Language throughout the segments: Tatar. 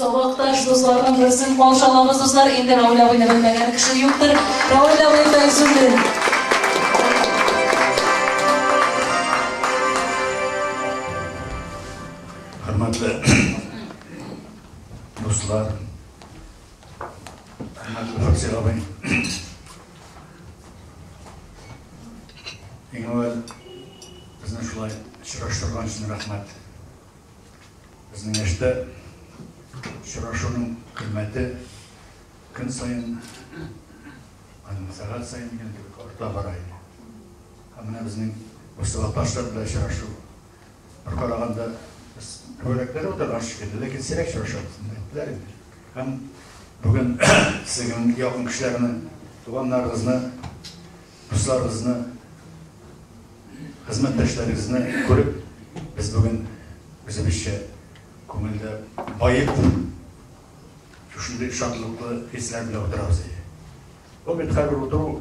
Сабакташ дусларның берсен калшалабыз, дуслар. Инде Равил абыйны белмәгән кеше юктыр. Равил абый белән сүндер. Хөрмәтле дуслар, Хөрмәтле Факсир абый. Иң әүвәл безне шулай очраштырган өчен рәхмәт. Безнең яшьтә очрашуның кыйммәте көн саен һәм сәгать саен дигән кебек арта бара иде. Һәм менә безнең Мостафа Ташлар белән очрашу Бер караганда без күбрәкләр утырган шикелле, ләкин сирәк очрашабыз, дип әйттеләр инде. Һәм бүген сезнең якын кешеләрне, туганнарыгызны, дусларыгызны, хезмәттәшләрегезне күреп, без бүген үзебезчә күңелдә баеп шушындый шатлыклы хисләр белән утырабыз. Бу бит хәзер утыру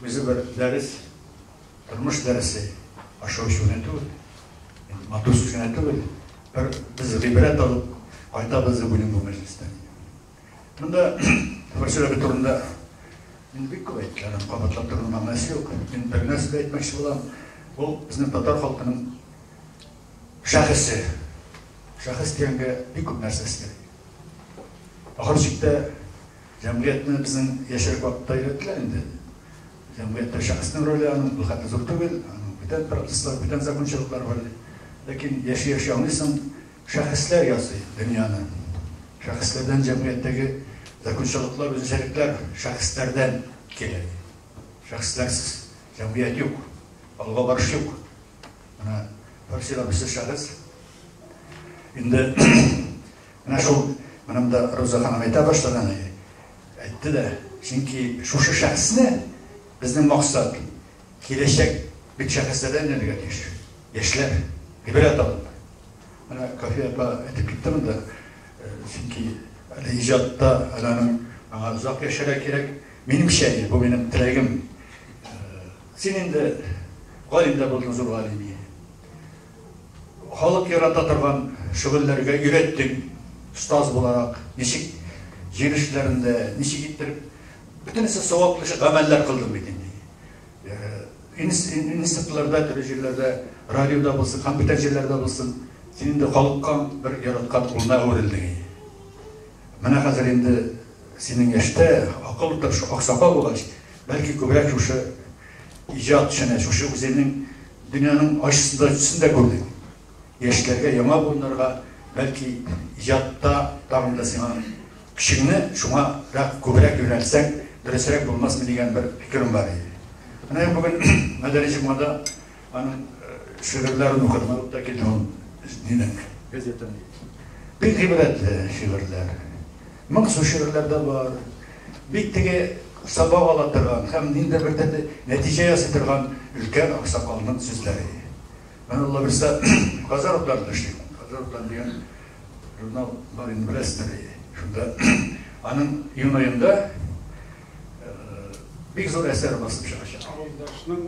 үзе бер дәрес. Тормыш дәресе ошо өчен генә түгел, матур сүз генә түгел, бер без гыйбрәт алып кайтабыз дип уйлыйм бу мәҗлестән. Монда фәлсәфә турында мин бик күп әйткән, кабатлап тору мәгънәсе юк. Мин бер нәрсә дә әйтмәкче булам, ул безнең татар халкының шәхесе. Шәхес дигәнгә бик күп нәрсә сыймый. Ахыр чиктә Җәмгыятьне безнең яшьрәк вакытта өйрәттеләр инде. Җәмгыятьтә шәхеснең роле аның берхәтле зур түгел, аның бүтән процесслар, бүтән закончалыклар бар. Ләкин яши-яши аңлыйсың, шәхесләр ясый дөньяны. Шәхесләрдән җәмгыятьтәге закончалыклар, үзенчәлекләр шәхесләрдән килә. Шәхесләрсез җәмгыять юк, алга барыш юк. Менә Фарси абыйсы шәхес. Инде Менә шул, менә монда Роза ханым әйтә башлаган иде, әйтте дә, чөнки шушы шәхесне безнең максат, киләчәк бит шәхесләрдән эләргә тиеш, яшьләр, гыйбрәт алып. Менә Кафия апа әйтеп китте монда, чөнки әле иҗатта, әле аның аңа озак яшәргә кирәк. Минемчә, бу минем теләгем. Син инде галим дә булдың, зур галим. Халык ярата торган шөгыльләргә өйрәттең остаз буларак, ничек җир эшләрендә, ничек иттереп, бөтенесе саваплы эш, гамәлләр кылдың бит инде. Институтларда, төрле җирләрдә, радиода булсын, компьютер җирләрдә булсын, син инде халыкка бер яраткан улына әверелдең. Менә хәзер инде синең яшьтә, акыллы, тырыш аксакал булгач, бәлки күбрәк шушы иҗат эшенә, шушы үзеңнең Дөньяның ачысын да, төсен дә күрдек. Яшьләргә яңа буыннарга, бәлки, иҗатта тагын да сиңа көчеңне шуңа рак күбрәк юнәлтсәң, дөресрәк булмасмы дигән бер фикерем бар иде. Менә бүген Мәдәни җомгада аның шигырьләрен укыдым, алып та килдем ул динең газетын. Бик гыйбрәтле шигырьләр. Моңсу шигырьләр дә бар. Бит теге сабак ала торган һәм ниндидер бер төрле нәтиҗә ясый торган өлкән аксакалның сүзләре. Мин ул лабирста Казан утларында эшлим. Казан утлары дигән журнал бар инде, беләсездер. Шунда аның июнь аенда бик зур әсәр басылып чыгачак. Авылдашның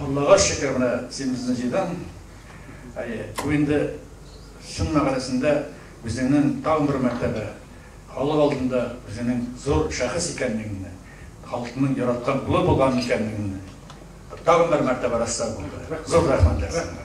Аллага шөкер, менә син безне җыйдың. Әйе, бу инде чын мәгънәсендә үзеңнең тагын бер мәртәбә халык алдында үзеңнең зур шәхес икәнлегеңне, халыкның яраткан кулы булган икәнлегеңне тагын бер мәртәбә раслау булды. Зур рәхмәтләр сезгә.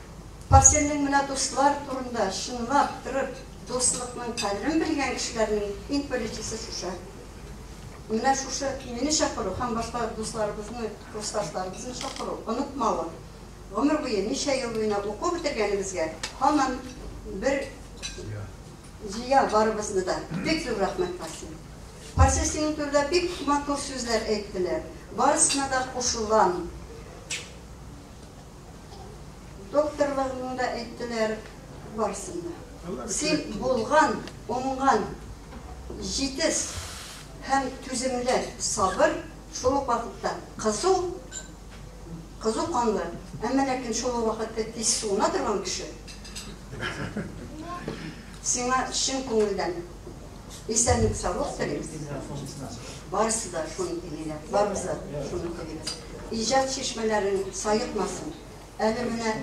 Парсельнең менә дуслар турында чынлап трып дуслыкның кадерен белгән кешеләрнең иң беренчесе шушы. Менә шушы мине чакыру һәм башка дусларыбызны, курсташларыбызны чакыру, онытмавы, гомер буе ничә ел буена уку бетергәнебезгә һаман бер җыя барыбызны да. Бик зур рәхмәт, Парсель. Парсель синең турыда бик матур сүзләр әйттеләр. Барысына да кушылам. Докторларның да әйттеләр, барсын да. Син булган, уңган, җитез һәм түземле, сабыр, шул ук вакытта кызу, кызу канлы, әмма ләкин шул ук вакытта тиз суына торган кеше. Сиңа чын күңелдән Исәнлек-саулык телим сезгә. Барысы да шуны телиләр, барыбыз да шуны телибез. Иҗат чишмәләрең саекмасын. Әле менә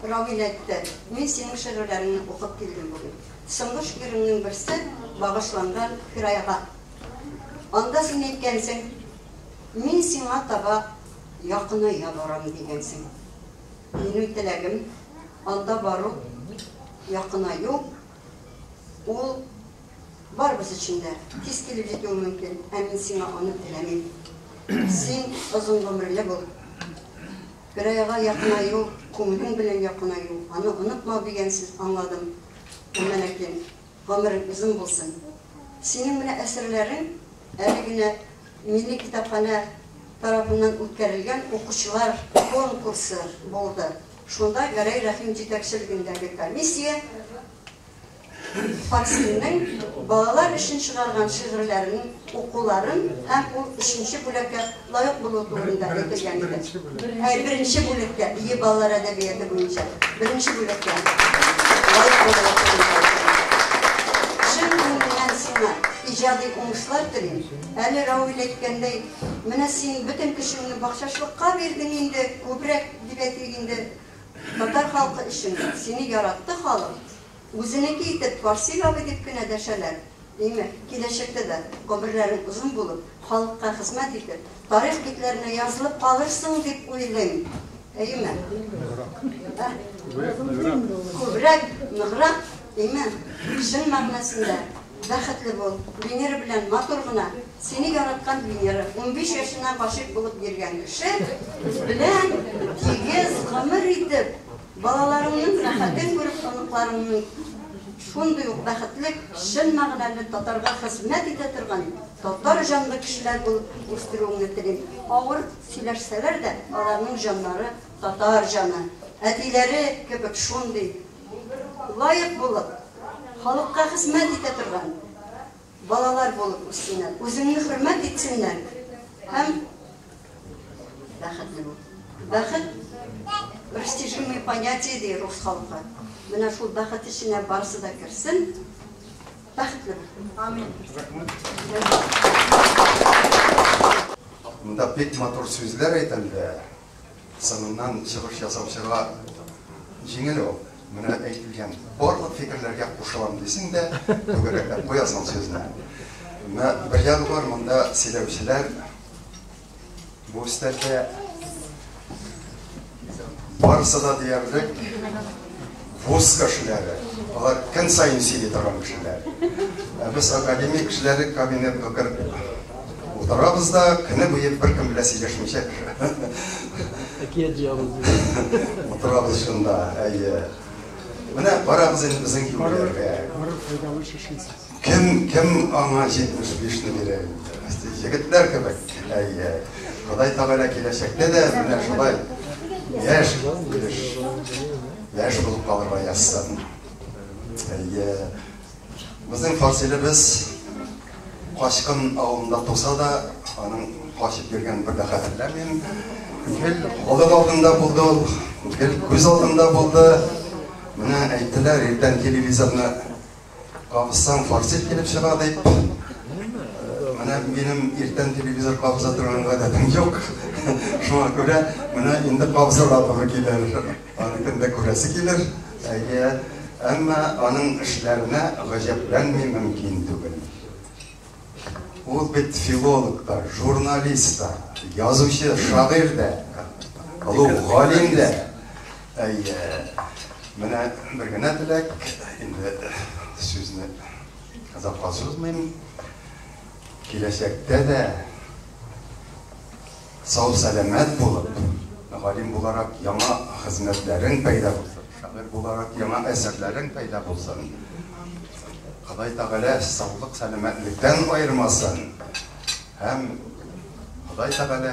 Равил әйтте, мин синең шигырьләреңне укып килдем бүген. Соңгы шигыреңнең берсе багышланган Фирайга. Анда син әйткәнсең, мин сиңа таба якыная барам дигәнсең. Минем теләгем анда бару, якынаю. Ул барыбыз өчен дә тиз килеп җитүе мөмкин, ә мин сиңа аны теләмим. Син озын гомерле бул. Берәйга якынаю, күңелең белән якынаю, аны онытмау дигән сүз аңладым. Әмма ләкин гомерең озын булсын. Синең менә әсәрләрең әле генә Милли китапханә тарафыннан үткәрелгән укучылар конкурсы булды. Шунда Гәрәй Рәхим җитәкчелегендәге комиссия Факсинның балалар өчен чыгарган шигырьләрен укуларын һәм ул өченче бүлеккә лаек булуы турында әйтелгән иде. Әй, беренче бүлеккә, бии балалар әдәбияты буенча, беренче бүлеккә лаек булуы турында. Чын күңелдән сиңа иҗади уңышлар телим. Әле Рауил әйткәндәй, менә син бөтен көчеңне бакчачылыкка бирдең инде, күбрәк Дип әйтик инде, татар халкы өчен сине яратты халык, үзенеке итеп Фарси бабай дип кенә дәшәләр, димәк, киләчәктә дә гомерләрең озын булып, халыкка хезмәт итеп, тарих битләренә язылып калырсың дип уйлыйм. Әйеме? Күбрәк, ныграк, әйеме? Чын мәгънәсендә бәхетле бул, Венера белән матур гына Сине яраткан Венера, унбиш яшеннән гашыйк булып йөргән кеше белән тигез гомер итеп, балаларыңның рәхәтен күреп, оныкларыңның шундый ук бәхетле, чын мәгънәле татарга хезмәт итә торган татар җанлы кешеләр булып үстерүеңне телим. Авыр сөйләшсәләр дә, аларның җаннары татар җаны. Әтиләре кебек шундый лаек булып, халыкка хезмәт итә торган, Балалар булып үссеннәр, үзеңне хөрмәт итсеннәр һәм бәхетле бул. Бәхет растяжимое понятие ди рус халкы. Менә шул бәхет эченә барысы да керсен. Бәхетле бул. Амин. Рәхмәт. Монда бик матур сүзләр әйтелде. Сыныннан чыгыш ясаучыга җиңел ул. Менә әйтелгән барлык фикерләргә кушылам дисең дә, түгәрәкләп куясың сүзне. Менә бер ягы бар, монда сөйләүчеләр бу өстәлдә барысы да диярлек Вуз кешеләре, алар көн саен сөйли торган кешеләр. Ә без академия кешеләре кабинетка кереп утырабыз да, көне буе беркем белән сөйләшмичә әкият җыябыз. Утырабыз шунда, әйе. Менә барабыз инде безнең юлларга. Барып файдалы шешенсез. Кем, кем аңа 75 не бирә инде? Егетләр кебек. Әйе. Ходай Тәгалә киләчәктә дә менә шулай яшь килеш, яшь булып калырга язсын. Әйе. Безнең фасилебез Качкын авылында туса да, аның качып йөргәнен бер дә хәтерләмим. Гел халык алдында булды ул, гел күз алдында булды. Менә әйттеләр, иртән телевизорны Кагызсаң форсит килеп чыга дип. Менә минем иртән телевизор кагыза торган гадәтем юк. Шуңа күрә менә инде кагызырга туры килер. Аны кемдә күрәсе килер. Әйе. Әмма аның эшләренә гаҗәпләнми мөмкин түгел. Ул бит филолог та, журналист та, язучы, шагыйрь дә, олуг галим дә. Әйе. Менә бер генә теләк, инде сүзне озакка сузмыйм. Киләчәктә дә сау-сәламәт булып, галим буларак яңа хезмәтләрең пәйда булсын, шагыйрь буларак яңа әсәрләрең пәйда булсын. Ходай Тәгалә саулык, сәламәтлектән аермасын. Һәм Ходай Тәгалә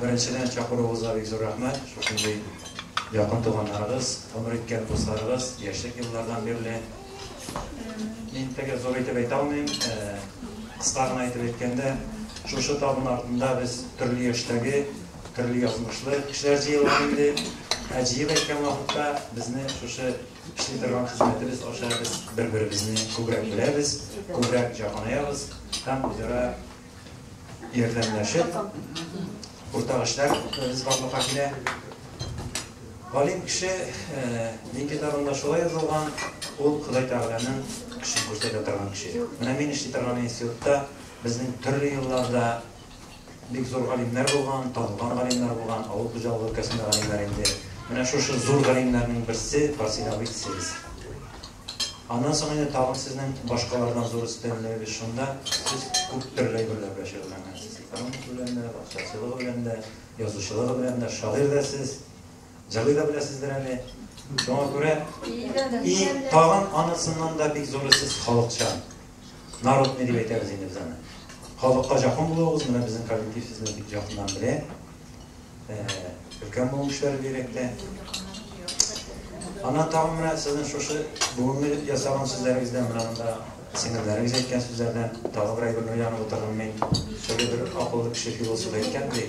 Беренчедән чакыруыгызга бик зур рәхмәт. Шушындый якын туганнарыгыз, гомер иткән дусларыгыз, яшьлек еллардан бирле. Мин теге зур итеп әйтә алмыйм. Кыска гына итеп әйткәндә, шушы табын артында без төрле яшьтәге, төрле язмышлы кешеләр җыелган инде. Ә җыеп әйткән вакытта безне шушы эшли торган хезмәтебез аша без бер-беребезне күбрәк беләбез, күбрәк җакынаябыз һәм үзара ярдәмләшеп, уртак эшләр без барлыкка килә. Галим кеше дин китабында шулай язылган, ул Ходай Тәгаләнең кеше күрсәтә торган кеше. Менә мин эшли торган институтта безнең төрле елларда бик зур галимнәр булган, танылган галимнәр булган, авыл хуҗалыгы өлкәсендә галимнәр инде. Менә шушы зур галимнәрнең берсе Барсин абый дисез. Аннан соң инде тагын сезнең башкалардан зур өстенлегегез шунда, сез күп төрле әйберләр белән шөгыльләнгәнсез. Экономика белән дә, бакчачылыгы белән дә, язучылыгы белән дә, шагыйрь дә сез, җырлый да беләсездер әле. Шуңа күрә, и, тагын анысыннан да бик зуры сез халыкчан. Народный дип әйтәбез инде без аны. Халыкка жакын булуыгыз, менә безнең коллектив сезне бик жакыннан белә. Өлкән булу эшләре бирәктә. Аннан тагын менә сезнең шушы бүгенге ясаган сүзләрегездән менә монда сеңелләрегез әйткән сүзләрдән тагы бер әйберне уянып утырдым мин. Теге бер акыллы кеше философ әйткән ди.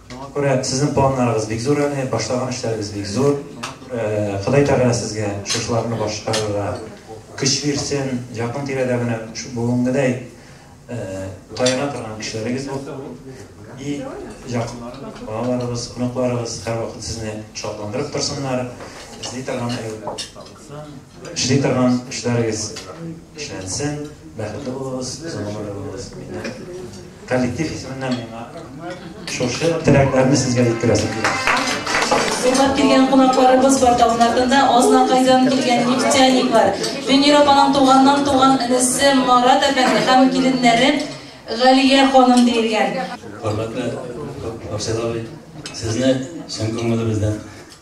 Шуңа күрә сезнең планнарыгыз бик зур әле, башлаган эшләрегез бик зур. Ходай Тәгалә сезгә шушыларны башкарырга көч бирсен, якын тирәдә менә бүгенгедәй таяна торган кешеләрегез булсын. И якыннарыгыз, балаларыгыз, оныкларыгыз һәрвакыт сезне шатландырып торсыннар, эзли торган Эшли торган эшләрегез эшләнсен, бәхетле булыгыз, озын гомерле булыгыз. Миннән коллектив исеменнән миңа шушы теләкләрне сезгә җиткерәсем килә. Сыйлап килгән кунакларыбыз бар тавнардан да Азнакайдан килгән нефтяниклар. Венер апаның туганнан туган энесе Марат әфәнде һәм киленнәре Галия ханым диелгән. Хөрмәтле Абсел абый, сезне чын күңелебездән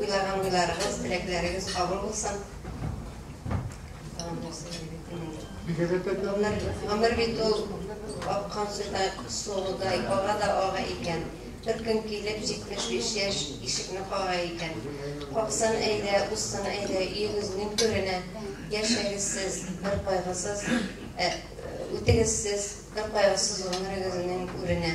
Уйлаган уйларыгыз, теләкләрегез кабул булсын. Гомер, гомер бит ул аккан судай, суыдай, ага да ага икән. Бер көн килеп, 75 яшь ишекне кага икән. Каксын әйдә, узсын әйдә, өегезнең түренә. Яшәгез сез, бер кайгысыз, ә, үтегез сез, бер кайгысыз гомерегезнең үренә.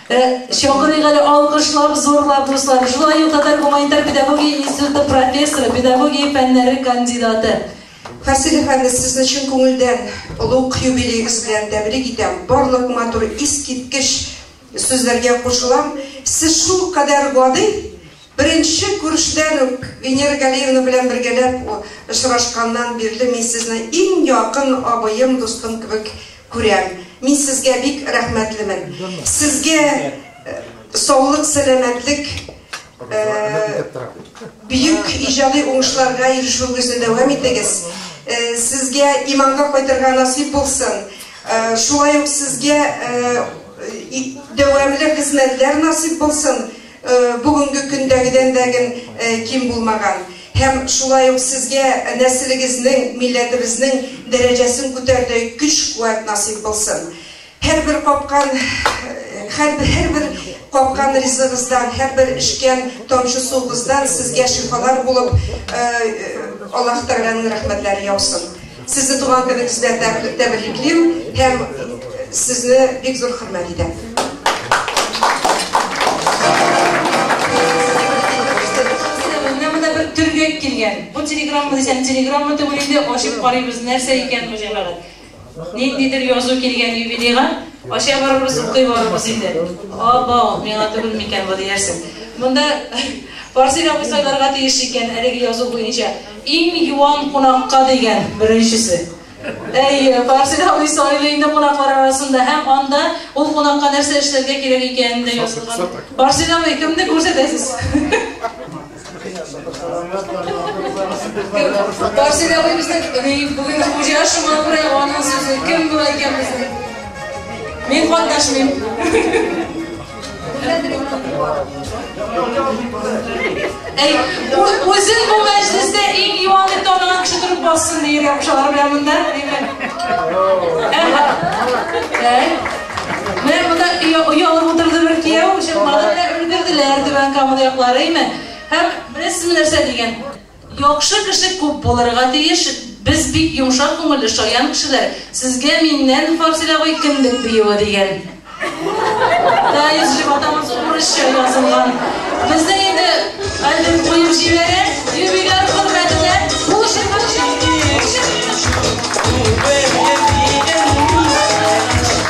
Э, чакырыйк әле, алкышлап, зурлап, дуслар. Шулай ук Татар гуманитар педагогия институты профессоры, педагогия фәннәре кандидаты. Фасил әфәнде, сезне чын күңелдән олуг юбилеегыз белән тәбрик итәм. Барлык матур, искиткеч сүзләргә кушылам. Сез шул кадәр гади, Беренче күрештән үк Венера Галиевна белән бергәләп очрашканнан бирле мин сезне иң якын абыем, дустым кебек күрәм. Мин сезгә бик рәхмәтлемен. Сезгә саулык, сәламәтлек, бөек иҗади уңышларга ирешүегезне дәвам итегез. Сезгә иманга кайтырга насыйп булсын. Шулай ук сезгә дәвамле хезмәтләр насыйп булсын. бүгенге көндәгедән дә гел ким булмаган һәм шулай ук сезгә нәселегезнең, милләтебезнең дәрәҗәсен күтәрдәй көч-куәт насыйп булсын. Һәрбер капкан, хәрбер һәрбер капкан ризыгыздан, һәрбер эчкән тамчы суыгыздан сезгә шифалар булып, Аллаһ Тәгаләнең рәхмәтләре яусын. Сезне туган көнегез белән тәб- тәбриклим һәм сезне бик зур хөрмәт итәм. Менә монда бер төргәк килгән. Бу телеграмма дисәм, телеграмма түгел инде, ачып карыйбыз, нәрсә икән бу җәмәгать. Ниндидер язу килгән юбилейга, ача барырбыз, укый барырбыз инде. Абау, миңа түгел микән бу диярсең. Монда Фарсил абый сайларга тиеш икән әлеге язу буенча. Иң юан кунакка дигән беренчесе. Әй, Фарсил абый сайлый инде кунаклар арасында һәм анда ул кунакка нәрсә эшләргә кирәк икәнен дә язылган. Фарсил абый, кемне күрсәтәсез? Фарсил абый безнең бүген хуҗа шуңа күрә аның сүзе кем була икән безнең? Мин катнашмыйм. Әй, үзен бу мәҗлестә иң юан дип таныган кеше торып бассын ди иргә кушалар белән монда. Менә монда оялып утырды бер кияү, чынлап та өлгерделәр түбән камыда якларыймы? Һәм беләсезме нәрсә дигән? Яхшы кеше күп булырга тиеш, без бик йомшак күңелле, шаян кешеләр, сезгә миннән Фарсил абый кендек биюе дигән Даизҗи батамус урысча язылган Безнең инде альбем куеп җибәрә Юбиляр хөрмәтенә бу җырны җырлыйк!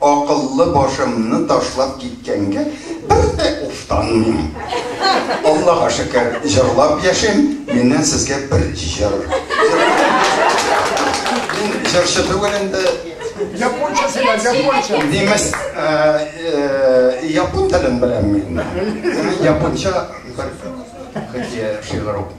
Акыллы башымны ташлап киткәнгә бер дә уфтанмыйм. Аллага шөкер, җырлап яшим, миннән сезгә бер җыр. Мин җырчы түгел инде. Японча сөйлә, японча. Немец, япон телен беләм мин. Японча бер хикәя шигырь укыйм.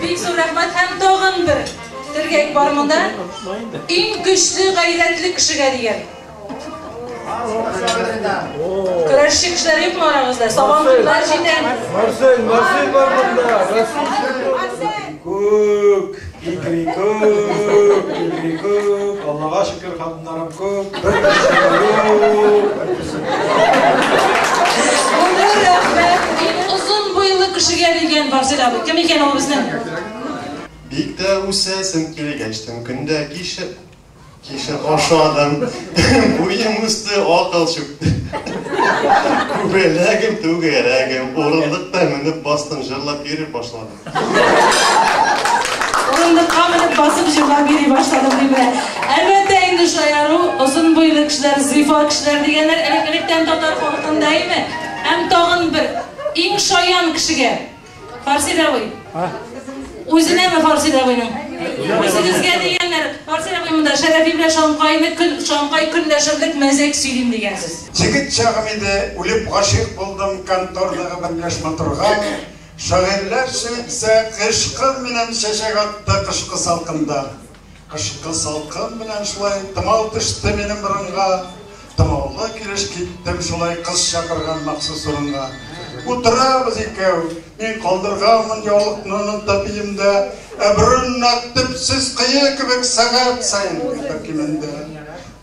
Бик зур рәхмәт һәм тагын бер төргәк бар монда. Иң көчле гайрәтле кешегә дигән. Көрәшче кешеләр юкмы арагызда? Сабан туйлар җитән. Марсель, Марсель бар монда. Марсель. Күк, икрикүк, икрикүк. Аллага шөкер, Нарынку, бер Озын буйлы кешегә дигән бар сөйлә. Кем икән ул безнең? Бик тә үсәсен килгәч, төн көндә кишер кишер ашадым. Буем үсте, акыл чүкте. Күбәләгем, түгәрәгем, урындыкта менеп бастым, җырлап йөри башладым. Урындыкка менеп басып җырлап йөри башладым дип белә. Әлбәттә инде шаяру, озын буйлы кешеләр, зыйфа кешеләр дигәннәр элек-электән татар халкында име? Һәм тагын бер иң шаян кешегә. Фарси Рәвый. Үзенәме Фарси Рәвыйның? Үзегезгә дигәннәр, Фарси Рәвый монда Шәрәфи белән Шамкайны көн Шамкай көн дәшерлек мәзәк сөйлим дигәнсез. Җегет чагым иде, үлеп гашыйк булдым, контордагы берләшмә торган. Шагыйрьләрчә исә Кыш кыр менән чәчәк атты кышкы салкында, Кышкы салкын менән шулай томау төште минем борынга, Томаулы килеш киттем шулай кыз чакырган махсус урынга. Утырабыз икәү, мин калдырганмын яулыкны оныта биемдә, Ә борын нәкъ төпсез кое кебек сәгать саен кимеде.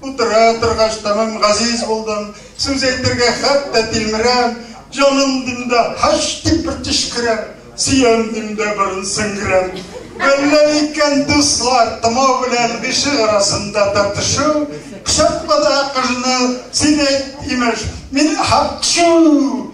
Утыра торгач тәмам газиз булдым. Сүз әйтергә хәтта тилмерәм, Җаным дим дә һач дип бер төчкерәм, Сөям дим дә борын сеңгерәм. Гөлләр икән дуслар, томау белән гыйшык арасында тартышу, Кочакла да кыжны, син әйт, имеш, мин һакчу!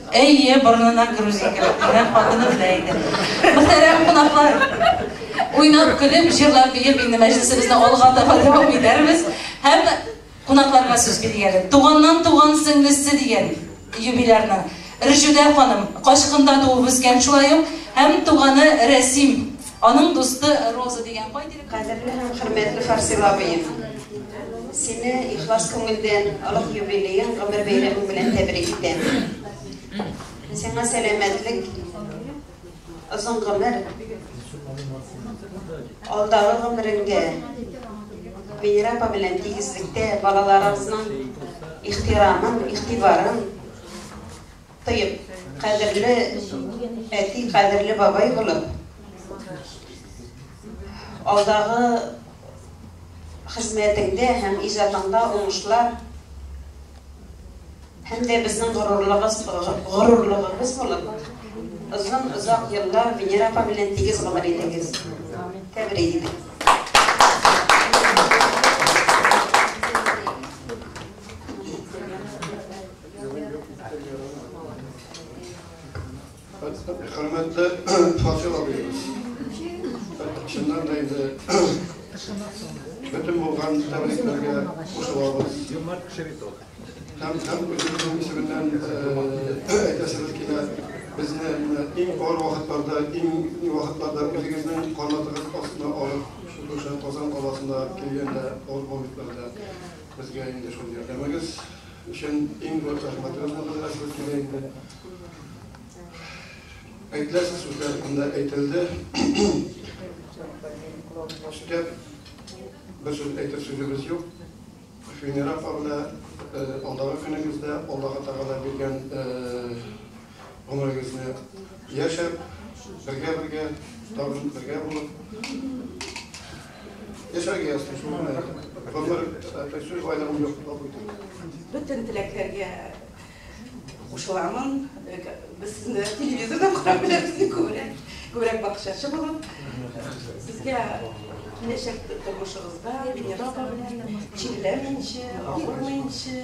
Әйе, борынына грузин кереп кергән хатыны белә иде. Мөхтәрәм кунаклар, уйнап, көлеп, җырлап, биеп инде мәҗлесебезне алга таба дәвам итәрбез. Һәм кунакларга сүз бирик әле. Туганнан туган сеңлесе дигән юбилярның Ржүдә ханым, Качкында туып үскән, шулай ук һәм туганы Рәсим Аның дусты Роза дигән кай тирә. Кадерле һәм хөрмәтле Фарсил абыем! Сине ихлас күңелдән олуг юбилеең, гомер бәйрәмең белән тәбрик итәм. Сиңа сәламәтлек, озын гомер, алдагы гомеренгә Венера апа белән тигезлектә балаларыбызның ихтирамын, игътибарын, Тоеп, кадерле әти, кадерле бабай булып, алдагы хезмәтеңдә һәм иҗатыңда уңышлар һәм дә безнең горурлыгыбыз горурлыгыбыз булып, озын озак еллар Венера апа белән тигез гомер итегез. Тәбрик итәм. Хөрмәтле Фатил абыебыз, чыннан да инде бөтен булган тәбрикләргә кушылабыз. Һәм һәм үзебезнең исеменнән әйтәсебез килә, безне иң авыр вакытларда, иң вакытларда үзегезнең канатыгыз астына алып, шушы Казан каласына килгәндә, авыр моментlarda безгә инде шул ярдәмегез Өчен иң зур зәхмәт ул булды менә шул килә инде. Әйтәсе сүзләр анда әйтелде. Өстәп бер сүз әйтер сүзебез юк. Финера кабына алдагы көнегездә Аллаһы Тәгалә биргән гомерегезне яшәп, бергә-бергә, тагын бергә булып яшәргә язсын шул гына. Гомер, әтәк сүз байлыгым юк, кабул Бөтен теләкләргә кушыламын. Без сезне телевизордан карап беләбез, күбрәк, күбрәк бакчачы булып. Сезгә киләчәк тормышыгызда, Венера белән, чирләмәенче, авырмаенчы,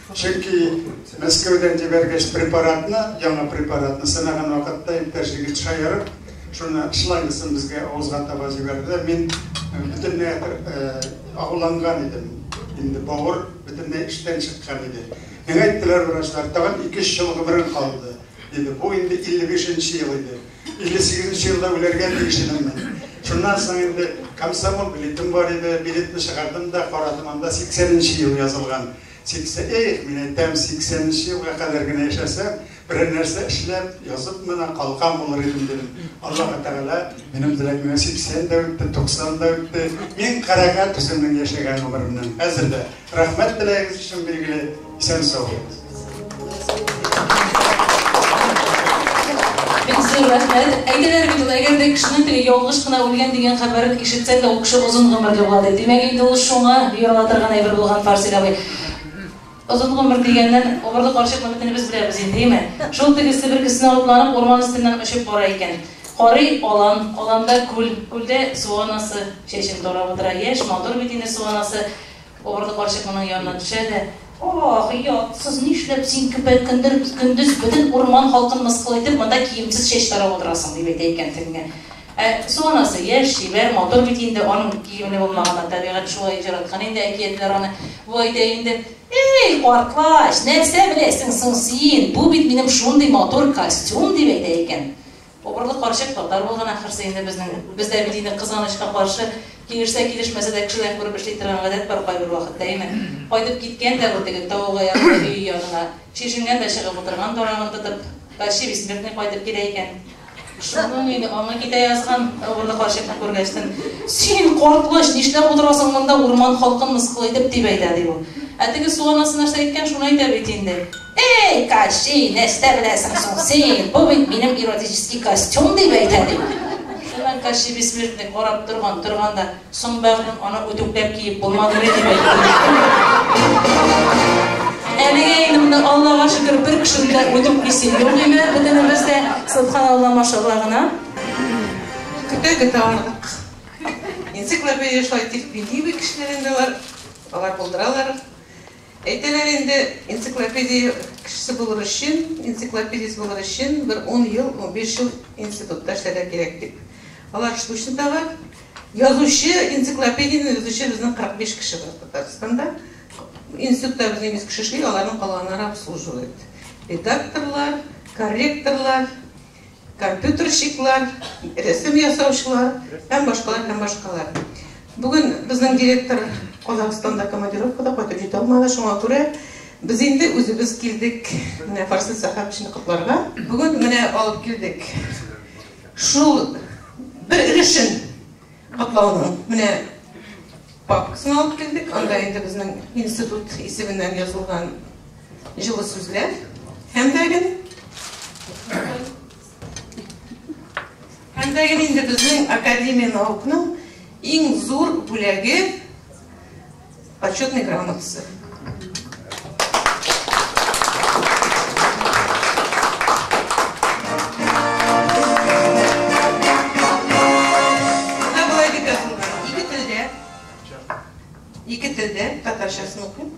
Чөнки Мәскәүдән җибәргәч препаратны, яңа препаратны сынаган вакытта иптәш егет шаярып, шуны шлангысын безгә авызга таба җибәрделәр. Мин э, бөтенләй э, агуланган идем. Инде бавыр бөтенләй эштән чыккан иде. Миңа әйттеләр врачлар, тагын 2-3 ел гомерең калды. Диде, бу инде 55-нче ел иде. 58-нче елда үләргә тиеш идем мин. Шуннан соң инде комсомол билетым бар иде, билетны чыгардым да, карадым, анда 80-нче ел язылган. Сиксә, их, мин әйтәм, сиксәненче елга кадәр генә яшәсәм, берәр нәрсә эшләп, язып мына калган булыр идем, дидем. Аллаһы Тәгалә минем теләгемә сиксән дә үтте, туксан да үтте. Мин канәгать үземнең яшәгән гомеремнән. Хәзер дә. Рәхмәт теләгегез өчен, билгеле. Исән-сау булыгыз. кешенең теге ялгыш кына үлгән дигән хәбәрен ишетсә дә, ул кеше озын гомерле була ди. Димәк, инде ул шуңа юрала торган әйбер булган Фарсил абый. Озын гомер дигәннән, огырлы карчыкны бөтенебез беләбез инде, әйме? Шул тегесе бер кесенә атланып, урман өстеннән очып бара икән. Карый алан, аланда күл, күлдә суанасы, чәчен тарап утыра. Яшь, матур бит инде суанасы. Авырлы карчык моның янына төшә дә, Ах, ятсыз, нишләп син көпә көндез бөтен урман халкын мыскыл итеп, монда киемсез чәч тарап утырасың, дип әйтә икән тегеңә. Ә су анасы яшь, чибәр, матур бит инде, аның киеме ни булмаганнар, табигать шулай җараткан инде әкиятләр аны. Бу әйтә инде, Эй, картлач, нәрсә беләсең соң син, бу бит минем шундый матур костюм, дип әйтә икән. Обырлы карчык татар булган ахырсы инде безнең. Бездә бит инде кызганычка каршы, килешсә килешмәсә дә кешедән күреп эшли торган гадәт бар кайбер вакытта, әйме? Кайтып киткән дә ул теге тавык аягыдай өе янына, чишенгән дә чыгып утырган бармагын тотып, тащи бессмертный кайтып килә икән. Шуның инде аңы китә язган, обырлы карчыкны күргәчтен. Син, картлыч, нишләп утырасың монда, урман халкын мыскыл итеп, дип әйтә, ди ул. Ә теге су анасы нәрсә әйткән, шуны әйтә бит инде. Әй, Кащи, нәрсә беләсең соң син, бу бит минем эротический костюм, дип әйтә, ди. Шуннан Кащи Бессмертный карап торган, торган да, Соң, бәгърем, аны үтүкләп киеп булмадымыни, дип әйтте. Әлегә инде монда, Аллага шөкер, бер кешене дә үтүклисе юк иде, бөтенебез дә, Сөбханалла, машалла гына. Көтә-көтә ардык. Энциклопедия шулай тик милли бит кешеләрендә бар, алар булдыралар. Әйтәләр инде, энциклопедия кешесе булыр өчен, энциклопедист булыр өчен бер ун ел, унбиш ел институтта эшләргә кирәк дип. Алар штучно таба. Язучы, энциклопедияне язучы безнең 45 кеше бар Татарстанда. Институтта безнең 100 кеше эшли, аларның калганнары обслуживает. Редакторлар, корректорлар, компьютерщиклар, рәсем ясаучылар һәм башкалар һәм башкалар. Бүген безнең директор Казахстанда командировкада кайтып җитә алмады, шуңа күрә без инде үзебез килдек менә Фарсы сәхәфәсен котларга. Бүген менә алып килдек. Шул бер өлешен котлауның менә Папкасын алып килдек, анда инде безнең институт исеменнән язылган җылы сүзләр һәм дә гел һәм дә гел инде безнең академия наукның иң зур бүләге почетный грамотасы. Ике телдә, татарчасын укыйм.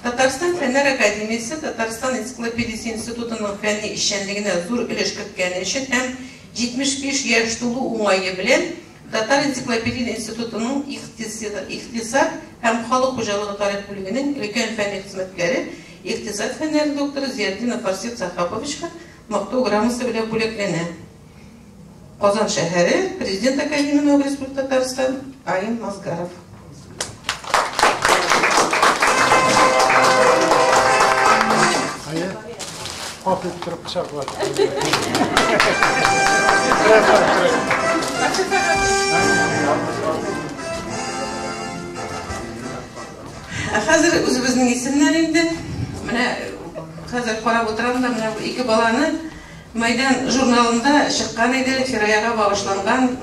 Татарстан Фәннәр Академиясе Татарстан энциклопедиясе институтының фәнни эшчәнлегенә зур өлеш керткәне өчен һәм 75 яшь тулу уңае белән Татар энциклопедия институтының икътисад һәм халык хуҗалыгы тарих бүлегенең өлкән фәнни хезмәткәре, икътисад фәннәре докторы Зиятдинов Фарсит Сахаповичка Мактау грамотасы белән бүләкләнә. Казан шәһәре, Президент Академия наук Республика Татарстан, Аим Мазгаров. Hafif kırık bıçak var. Хәзер үзебезнең исемнәр инде. Менә хәзер карап утырам да, менә ике баланы Мәйдан журналында чыккан иде, Фираяга багышланган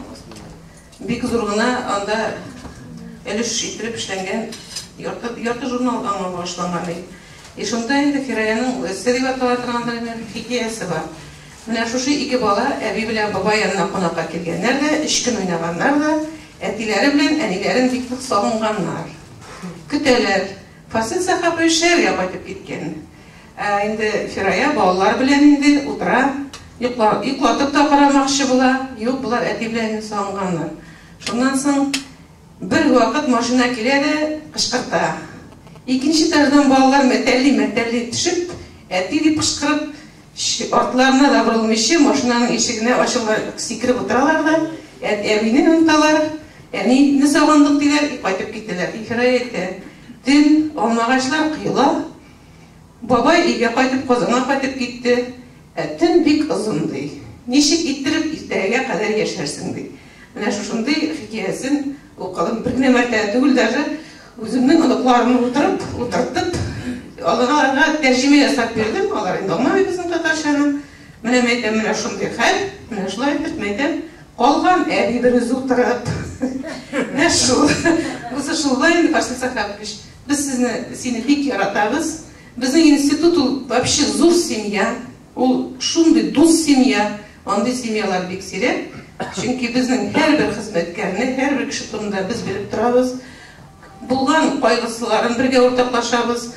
Бик зур гына анда өлеш ителеп эшләнгән ярты журнал аңа багышланган ди. И шунда инде Фираянең Үзе дип атала торган бер генә хикәясе бар. Менә шушы ике бала әби белән бабай янына кунакка килгәннәр дә, өч көн уйнаганнар да, әтиләре белән әниләрен бик нык сагынганнар. Көтәләр. Фасил Сәхапый эшләргә кайтып киткән. Ә инде Фирая балалар белән инде утыра, йоклатып та карамакчы була, юк, болар әти белән инде сагынганнар. Шуннан соң бер вакыт машина килә дә кычкырта. Икенче этаждан балалар мәтәлли-мәтәлли төшеп, әти дип кычкырып, артларына да борылмыйча, машинаның ишегенә ачыла, сикереп утыралар да, әбине оныталар, әнине сагындык, диләр, кайтып китәләр. И Фирая әйтә, төн, алмагачлар коела. Бабай өйгә кайтып Казанга кайтып китте. Ә төн бик озын, ди. Ничек иттереп иртәгәгә кадәр яшәрсең, ди. Менә шушындый хикәясен укыдым. Бер генә мәртәбә түгел, даже үземнең оныкларымны утырып, утыртып, аларга тәрҗемә ясап бирдем. Алар инде аңламый безнең татарчаны. Менә мәйтәм, менә шундый хәл. Менә шулай итеп, мәйтәм, калган әби берүзе утырып. Менә шул. Бусы шулай инде, Фарсилсакапович. Без сезне сине бик яратабыз. Безнең институт ул вообще зур семья. Ул шундый дус семья. Андый семьялар бик сирәк. Чөнки безнең һәрбер хезмәткәрне, һәрбер кеше турында без белеп торабыз. Булган кайгысыларын бергә уртаклашабыз.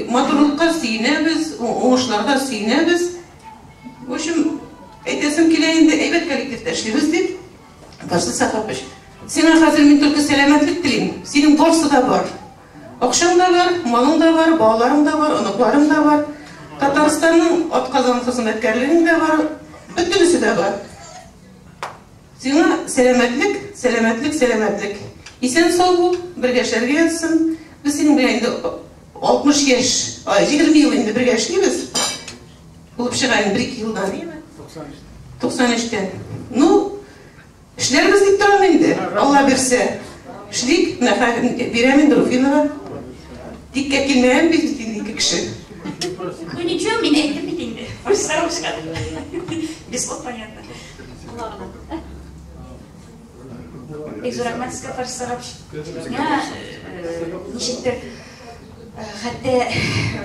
Матурлыкка сөенәбез, уңышларга сөенәбез. В общем, әйтәсем килә инде, әйбәт коллективта эшлибез дип. Ташны Сатапыч. Сиңа хәзер мин только сәламәтлек телим. Синең барсы да бар. Акшаң да бар, малың да бар, балаларың да бар, оныкларың да бар. Татарстанның атказан хезмәткәрлегең дә бар. Бөтенесе дә бар. Сиңа сәламәтлек, сәламәтлек, сәламәтлек. Исән сау бул, бергә эшләргә язсын. Без синең белән инде 60 яшь, 20 ел инде бергә эшлибез. Булып чыга инде бер-ике елдан, әйеме? 93. 93-тә. Ну, эшләрбез дип торам инде. Алла бирсә. Эшлик, менә бирәм инде Руфинова. Тиккә килмәгән бит инде ике кеше. Ну ничего, мин әйтеп бит инде. Без сарушка. Без вот понятно. Ладно. Бик зур рәхмәт сезгә, Фарис Сарапш. Менә ничектер хәтта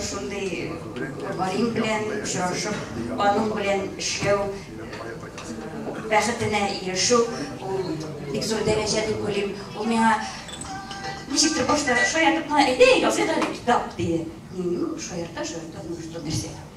шундый галим белән очрашып, аның белән эшләү бәхетенә ирешү, ул бик зур дәрәҗә дип уйлыйм. Ул миңа ничектер башта шаяртып кына әйтә, языйк әле китап, диде. Шаярта, шаярта, ну что нәрсә.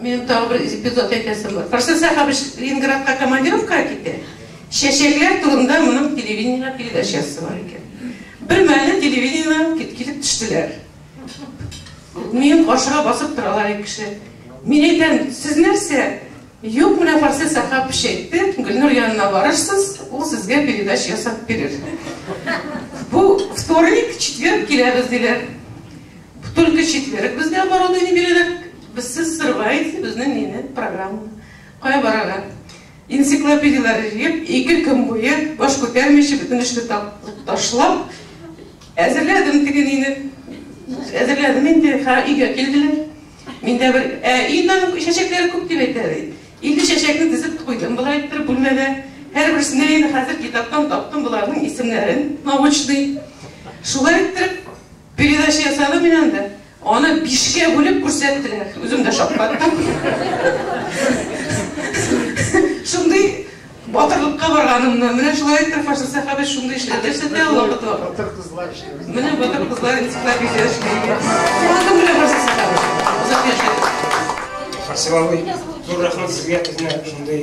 Минем тагы бер эпизод әйтәсем бар. Фарсен Сәхәбич Ленинградка командировкага китә. Чәчәкләр турында моның телевидениега передачасы бар икән. Бер мәлне телевидениедән килеп төштеләр. Минем каршыга басып торалар ике кеше. Мин әйтәм, сез нәрсә? Юк, менә Фарсен Сәхәбич әйтте, Гөлнур янына барырсыз, ул сезгә передача ясап бирер. Бу вторник, четверг киләбез диләр. Только читлерек безне оборудование бирәләр. Без сез сырваете безнең мине программа. Кая барырга? Энциклопедияләр җыеп, ике көн буе баш күтәрмичә бөтен эшне ташлап әзерләдем теге нине. Әзерләдем инде, ха өйгә килделәр. Миндә бер ә иннән чәчәкләр күп дип әйтә. Инде чәчәкне дизеп куйдым болай итеп бүлмәдә. Һәр берсенә инде хәзер китаптан таптым боларның исемнәрен, научный. Шулай итеп Передача ясады мин анда. Аны бишкә бүлеп күрсәттеләр. Үзем дә шаккаттым. Шундый батырлыкка барганымны. Менә шулай итеп фашист сәхәбә шундый эшләр күрсәтә ул вакытта. Батыр кызлар эшләгән. Менә батыр кызлар энциклопедия эшләгән. Кызым белән фашист сәхәбә. Озак яшәгез. Фарсилавый, зур рәхмәт сезгә безне шундый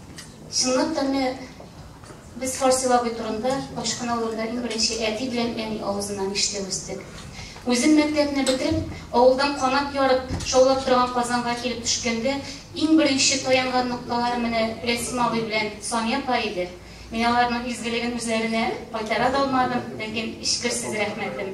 Чыннан да менә без Фарсил абый турында Пачкан авылында иң беренче әти белән әни авызыннан ишетеп үстек. Үзем мәктәпне бетереп, авылдан канат ярып, шаулап торган Казанга килеп төшкәндә, иң беренче таянган нокталарым менә Рәсим абый белән Сания апа иде. Мин аларның изгелеген үзләренә кайтара да алмадым, ләкин эчкерсез рәхмәтем.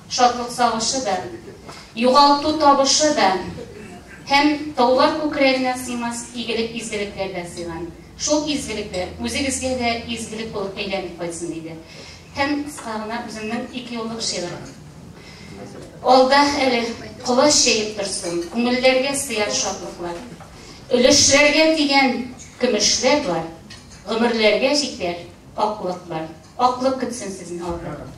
Шатлык сагышы да, югалту табышы да һәм таулар күкрәгенә сыймас игелек-изгелекләр дә сыйган. Шул изгелекләр үзегезгә дә изгелек булып әйләнеп кайтсын, диде. Һәм кыска гына үземнең ике юллык шигырем. Алда әле колач җәеп торсын, күңелләргә сыяр шатлыклар. Өлешләргә дигән көмешләр бар, гомерләргә җитәр аклык бар. Аклык көтсен сезне авырлык.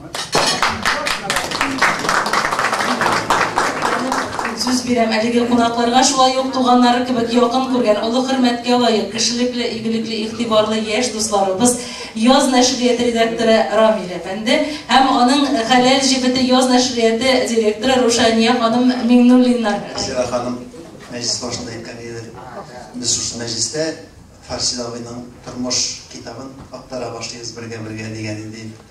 Сүз бирәм әлеге кунакларга шулай ук туганнары кебек якын күргән, олы хөрмәткә лаек, кешелекле, игелекле, игътибарлы яшь дусларыбыз Яз нәшрияте редакторы Рамилә әфәнде һәм аның хәләл җебете Яз нәшрияте директоры Рушания ханым Миңнуллиннар. Сәләханым мәҗлес башында әйткән иде. Без шушы мәҗлестә Фарсил абыйның тормыш китабын актара башлыйбыз бергә-бергә дигән иде инде.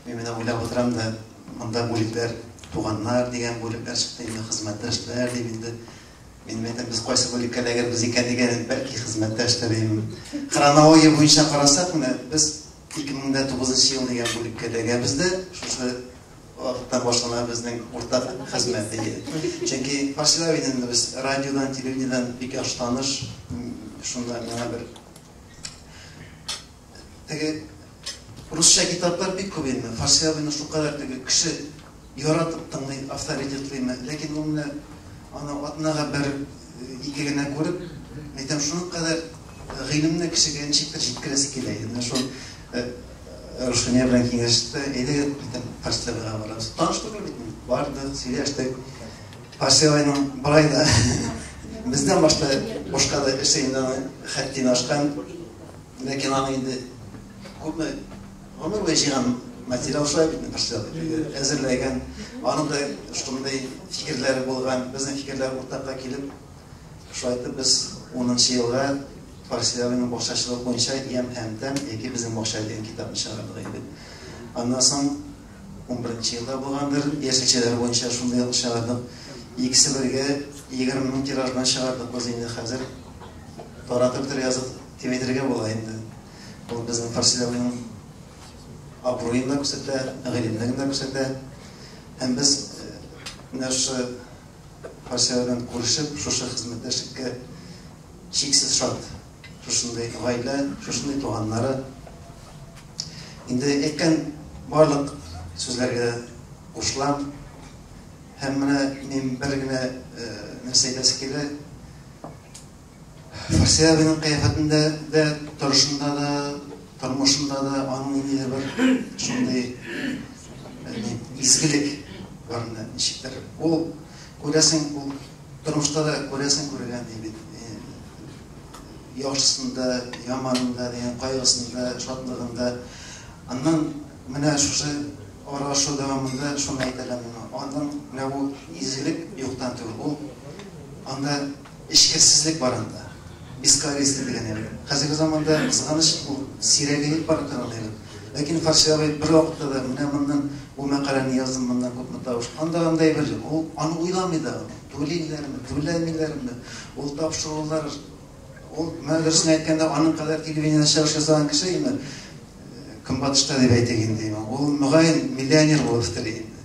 Мин менә уйлап утырам да, монда бүлекләр, туганнар дигән бүлекләр чыкты инде, хезмәттәшләр дим инде. Мин әйтәм, без кайсы бүлеккә эләгербез икән дигән идем, бәлки хезмәттәш тә дим. Хронология буенча карасак, менә без 2009 ел дигән бүлеккә эләгәбез дә, шушы Вакытта башлана безнең уртак хезмәт, әйе. Чөнки Василий Авидин без радиодан, телевидениедән бик яхшы таныш. Шунда миңа бер теге русча китаплар бик күп инде. Василий Авидин шулкадәр теге кеше яратып тыңлый, авторитетлыймы, ләкин ул менә аны атнага бер ике генә күреп, әйтәм, шуның кадәр гыйлемне кешегә ничектер җиткерәсе килә иде. Менә шул Рушания белән киңәште. Әйдә, битен Пастевага барабыз. Таныш түгел бит мин. Бардык, сөйләштек. Пастеваның бары да бездән башта бушка да эше инде аны хәттин ашкан. Ләкин аны инде күпме гомер буе җыйган материал шулай бит Пастева. Әзерләгән. Аның да шундый фикерләре булган. Безнең фикерләр уртакка килеп Шулай итеп, без унынчы елга Фарсиләрнең бакчачылык буенча Ям һәм тәм яки безнең бакча дигән китапны чыгардык инде. Аннан соң унберенче елда булгандыр, яшелчәләр буенча шундый ук чыгардык. Икесе бергә егерме мең тираж белән чыгардык без инде хәзер. Таратып бетерергә язып дип әйтергә була инде. Ул безнең Фарсиләрнең абруен да күрсәтә, гыйлемлеген дә күрсәтә. Һәм без менә шушы Хәсән белән күрешеп, шушы хезмәттәшлеккә чиксез шат. Шушындый гаилә, шушындый туганнары. Инде әйткән барлык сүзләргә кушылам. Һәм менә мин бер генә нәрсә әйтәсе килә. Фарсия абыйның кыяфәтендә дә, торышында да, тормышында да аның ниндидер бер шундый изгелек бар инде ничектер. Ул күрәсең, ул тормышта да күрәсең күргән ди бит. Яхшысында, яманында, дигән кайгысында, шатлыгында. Аннан менә шушы аралашу дәвамында шуны әйтәләр миңа. Аның менә бу изгелек юктан түгел. Ул анда Эчкерсезлек бар анда. Бескорыстие дигән әйбер. Хәзерге заманда, кызганыч, ул сирәгәеп бара тора ул әйбер. Ләкин Фарси абый бервакытта да, менә моннан бу мәкаләне яздым, моннан күпме тавыш. Анда андый әйбер юк. Ул аны уйламый да. Түлиләрме, түләмиләрме, ул тапшырулар, ул, менә дөресен әйткәндә, аның кадәр телевидениедә чыгыш ясаган кеше инде, Көнбатышта дип әйтик инде, ул, мөгаен, миллионер булып бетерер иде.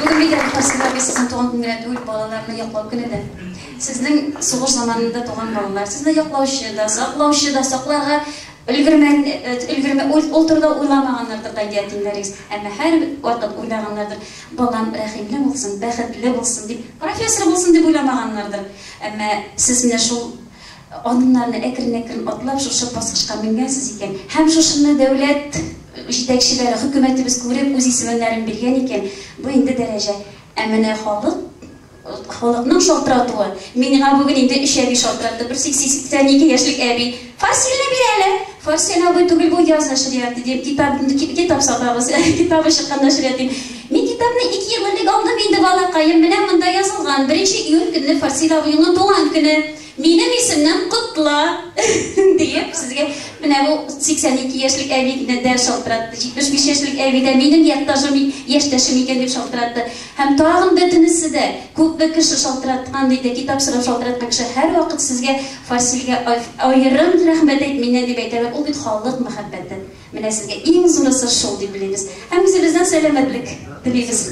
Бүген мидә рухасында без сезнең туган көн генә түгел, балаларны яклау көне дә. Сезнең сугыш заманында туган балалар, сезне яклаучы да, саклаучы да, сакларга өлгермән, өлгермә, ул, ул турыда уйламаганнардыр да ятимнәрегез. Әмма һәр вакыт уйлаганнардыр. Балам рәхимле булсын, бәхетле булсын дип, профессор булсын дип уйламаганнардыр. Әмма сез менә шул Адымнарны әкрен-әкрен атлап, шушы баскычка менгәнсез икән. Һәм шушыны дәүләт җитәкчеләре, хөкүмәтебез күреп, үз исемнәрен биргән икән. Бу инде дәрәҗә. Ә менә халык, халыкның шалтыратуы. Миңа бүген инде өч әби шалтыратты. Берсе, 82 яшьлек әби. Фарсилне бир әле! Фарсил абый түгел, бу яза шәригате, дим. Китап, китап сатабыз. Китабы чыкканда шәригать, дим. Мин китапны ике ел элек алдым инде, балакаем. Менә монда язылган. Беренче июнь көнне Фарсил абыйның туган көне. Минем исемнән котла! диеп, сезгә менә бу 82 яшьлек әби дә шалтыратты. 75 яшьлек әби дә минем якташым, яшьтәшем икән дип шалтыратты. Һәм тагын бөтенесе дә, күпме кеше шалтыраткан диде, китап сорап шалтыраткан кеше һәрвакыт сезгә, Фарсилгә аерым рәхмәт әйт миннән, дип әйтәләр. Ул бит халык мәхәббәте. Менә сезгә иң зурысы шул дип белегез. Һәм үзебездән сәламәтлек телибез.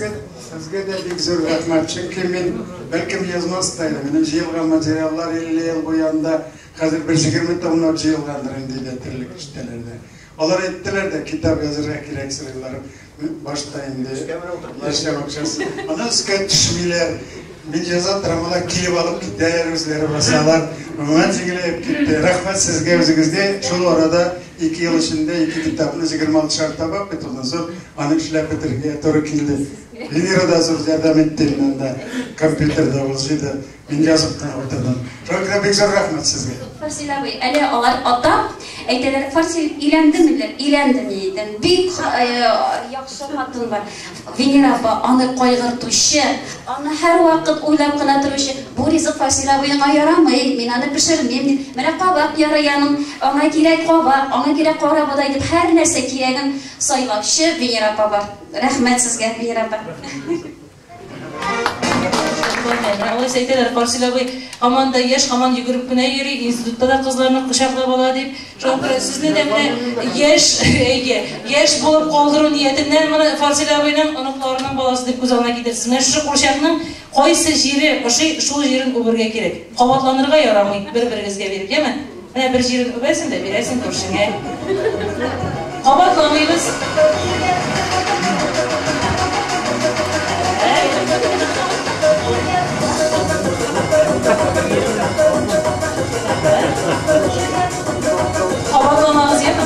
Сезгә дә бик зур рәхмәт, чөнки мин бәлкем язмас та идем. Минем җыелган материаллар 50 ел бу янда хәзер бер җигерме томнар җыелгандыр инде дә терлек киштәләрдә. Алар әйттеләр дә, китап язырга кирәк сыерларым. Мин башта инде өскә менеп утырдылар. Эшләп акчасы. Аны өскә төшмиләр. Мин яза торам, алар килеп алып китәләр, үзләре басалар. Гомумән җиңеләеп китте. Рәхмәт сезгә үзегезгә. Шул арада ике ел эчендә ике китапны 26 шар табак бит ул зур. Аны эшләп бетерергә туры килде. Венера да зур ярдәм итте монда. Компьютерда ул җыйды. Мин язып кына утырдым. Только бик зур рәхмәт сезгә. Фарсил абый, әле алар ата әйтәләр, Фарсил өйләндеме диләр, өйләндем дидем. Бик э, яхшы хатын бар. Венера апа аны кайгыртучы, аны һәрвакыт уйлап кына торучы. Бу ризык Фарсил абыеңа ярамый, мин аны пешермим дип. Менә кабак ярыяның, аңа кирәк кабак, аңа кирәк карабодай дип һәр нәрсә кирәген сайлаучы Венера апа бар. Рәхмәт сезгә, Венера апа. Алайса әйтәләр, Карсил абый һаман да яшь, һаман йөгереп кенә йөри, институтта да кызларны кочаклап ала дип. Шуңа күрә сезне дә менә яшь, әйе, яшь булып калдыру ниятеннән менә Карсил абыйның оныкларының баласы дип күз алдына китерсез. Менә шушы курчакның кайсы җире ошый, шул җирен үбергә кирәк. Кабатланырга ярамый, бер-берегезгә биреп, яме? Менә бер җирен үбәсең дә бирәсең күршеңә. Кабатламыйбыз. Кабатламагыз, яме?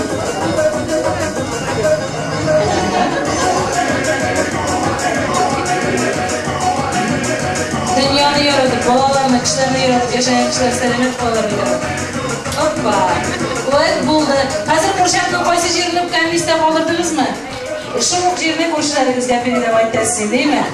Дөньяны яратып, балаларны, кешеләрне яратып яшәгән кешеләр сәламәт калалар бит. Оппа. Лайк булды. Хәзер курчакның кайсы җирен үпкәнен истә калдырдыгызмы? Шул ук җирне күршеләрегезгә передавать итәсез, димме?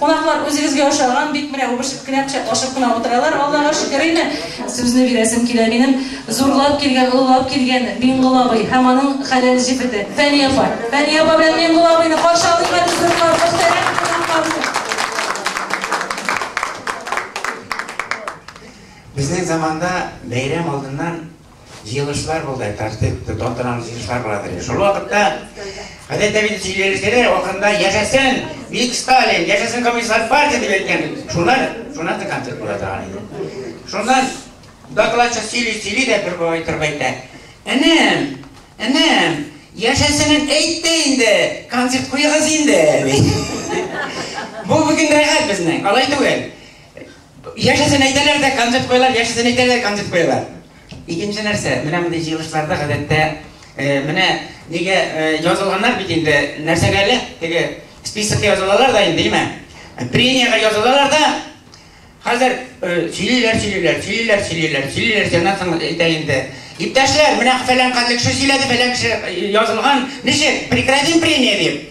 Кунаклар үзегезгә ошаган бик менә үбешеп кенә, кочаклашып кына утыралар, Аллага шөкер инде. Сүзне бирәсем килә минем, зурлап килгән, олылап килгән Миңгол абый һәм аның хәләл җефете, Фәния апа. Фәния апа белән Миңгол абыйны каршы алыйк әле зурлап, мөхтәрәм кунакларны. Безнең заманда бәйрәм алдыннан Җыелышлар булды, тәртип тота торган җыелышлар була торды. Шул вакытта Хәзрәт Әбил сөйләшкәне вакытында яшәсен Мик Сталин, яшәсен Коммунистар партия дип әйткән. Шуна, шуна да концерт була торган иде. Шуннан докладчы сөйли, сөйли дә бер бабай торып әйтә. Энем, энем, яшәсенен әйтте инде, концерт куегыз инде. Бу бүген рәхәт безнең, алай түгел. Яшәсен әйтәләр дә концерт куялар, яшәсен әйтәләр концерт куялар. Икенче нәрсә, менә мондый җыелышларда гадәттә э, менә нигә э, язылганнар бит инде нәрсәгә әле теге списокка язылалар да инде, димә. Премиягә язылалар да Хәзер сөйлиләр, сөйлиләр, сөйлиләр, сөйлиләр, сөйлиләр, сәнә соң әйтә инде. Иптәшләр, менә фәлән кадәр кеше сөйләде, фәлән кеше язылган. Ничек? Прекратим премия дип.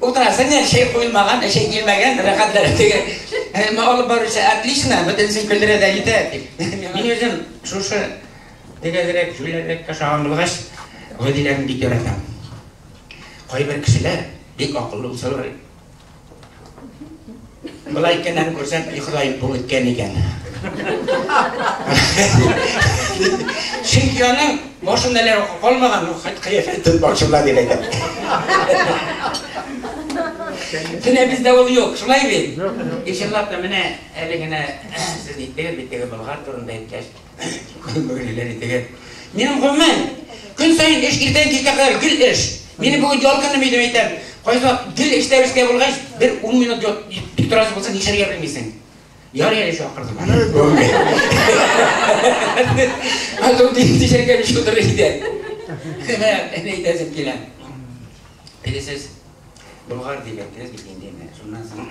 Утырасы не чәй куелмаган, чәй килмәгән, рәхәтләре теге. Әмма алып баручы отлично, бөтенесен көлдерә дә итә. Мин үзем шушы дигәзрәк, җүләррәк ашаган булгач, гадиләрне бик яратам. Кайбер кешеләр бик акыллы булсалар, Болай икәннәрен күрсәм, и Ходаем, бу үткән икән. Чөнки аның башында әле калмаган, хат кыяфәтен башында дип әйтә. Менә бездә ул юк, шулай бит? Ишеллап та менә әле генә сез иттегез бит теге Болгар турында әйткәч. Күрмәгәннәр итеге. Минем гомумән, көн саен эш иртән кичкә кадәр гел эш. Мине бүген ял көнем идем әйтәм. Кайсы гел эштә бишкә булгач, бер 10 минут тик торасы булса, нишәргә белмисең. Яр әле чакырдым. Азым дип дишәргә биш утыр иде. Менә әйтәсем килә. Белесез, болгар дип әйттегез бит инде. Шуннан соң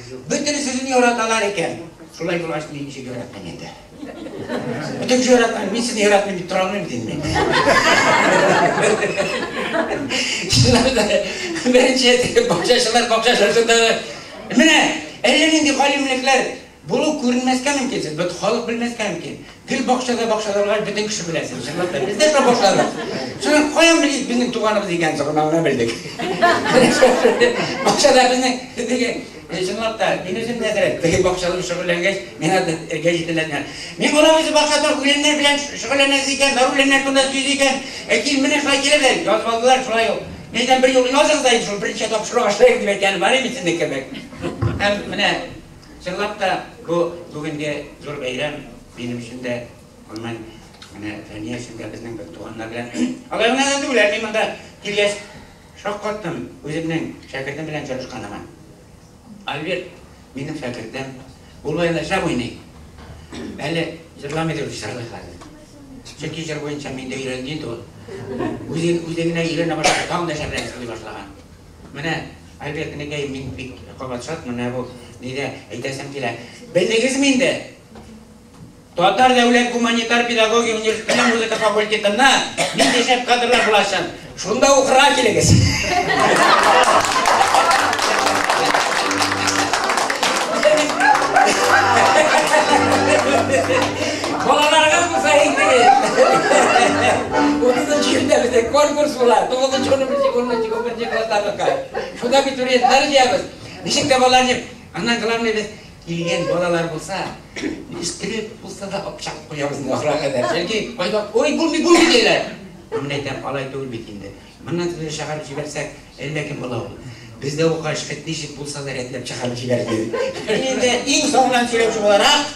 Бөтен сүзен яраталар икән. Шулай булгач, мин ничек яратмыйм инде. Бөтен кеше яратмыйм, мин сезне яратмыйм дип тора алмыйм дим мин. Шулай да беренче бакчачылар бакча шартында менә әллә нинди галимлекләр булу күренмәскә мөмкин, бит халык белмәскә мөмкин. Гел бакчада бакчадалар бөтен кеше белә син, чынлап та. Бездә шул бакчада. Шуны каян белик безнең туганыбыз икән шуны гына белдек. Бакчада безнең теге чынлап та мин үзем дә дәрәт теге бакчада шөгыльләнгәч, миңа да эргә җитәләннәр. Мин алар үзе бакчада үләннәр белән шөгыльләнәсез икән, бар үләннәр турында сөйлисез икән. Әйтим, менә шулай килеп дә язып алдылар, шулай ук. Нидән бер юлы языгыз да инде шул беренче тапшыру ашлык дип әйткән бар иде сезнең кебек. Һәм менә Чынлап та, бу бүгенге зур бәйрәм минем өчен дә, гомумән, менә Фәния өчен дә безнең бер туганнар белән. Алай гына да түгел, мин монда килгәч шаккаттым үземнең шәкертем белән җырышканыма. Альберт минем шәкертем, ул баянда шәп уйный. Әле җырламый дип җырлый хәзер. Чөнки җыр буенча мин дә өйрәнгән инде ул. Үзе үзе генә өйрәнә башлады, тагын да шәбрәк җырлый башлаган. Менә Альберт энекәем, мин бик кабат шат, менә бу нидә әйтәсем килә. Белдегезме инде? Татар дәүләт гуманитар педагогия университетының музыка факультетында нинди шәп кадрлар булачак? Шунда укырга килегез. Балаларыгыз булса интегез. 30 елда бездә конкурс була. 9 10 10 Беренче класста укыткач, шунда абитуриентлар җыябыз. Ничек тә балалар җыйм. Аннан главный без килгән балалар булса, истереп булса да акча куябыз инде ахырга кадәр. Чөнки кайда ой булмый булмый диләр. Мин әйтәм, алай түгел бит инде. Моннан тиз чыгарып җибәрсәк, әллә кем була ул. Бездә укач, хет ничек булса да рәтләп чыгарып җибәрде. Инде иң соңыннан сөйләүче буларак,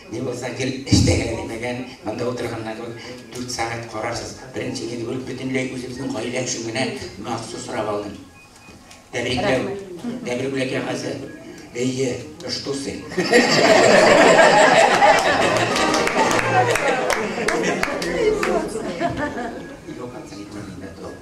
Ни булса гел эш тәгәрәде димәгән, монда утырганнан соң дүрт сәгать карарсыз. Беренче гел бер бөтенләй үзебезнең гаилә өчен генә махсус сорап алдым. Тәбрикләү, тәбрик бүләк кәгазе. Әйе, ыштусы.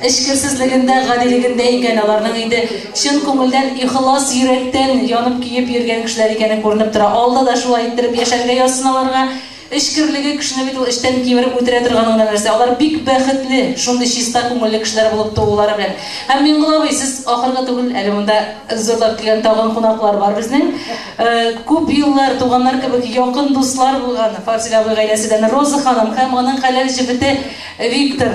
Эчкерсезлегендә, гадилегендә икән, аларның инде чын күңелдән, ихлас йөрәктән янып-көеп йөргән кешеләр икәне күренеп тора. Алда да шулай иттереп яшәргә язсын аларга. Эчкерлеге кешене бит ул эчтән кимереп үтерә торганы гына нәрсә. Алар бик бәхетле, шундый чиста күңелле кешеләр булып туулары белән. Һәм, Миңгол абый, сез ахыргы түгел, әле монда зурлап килгән тагын кунаклар бар безнең. Күп еллар туганнар кебек якын дуслар булган Фазил абый гаиләседән Роза ханым һәм аның хәләл җефете Виктор.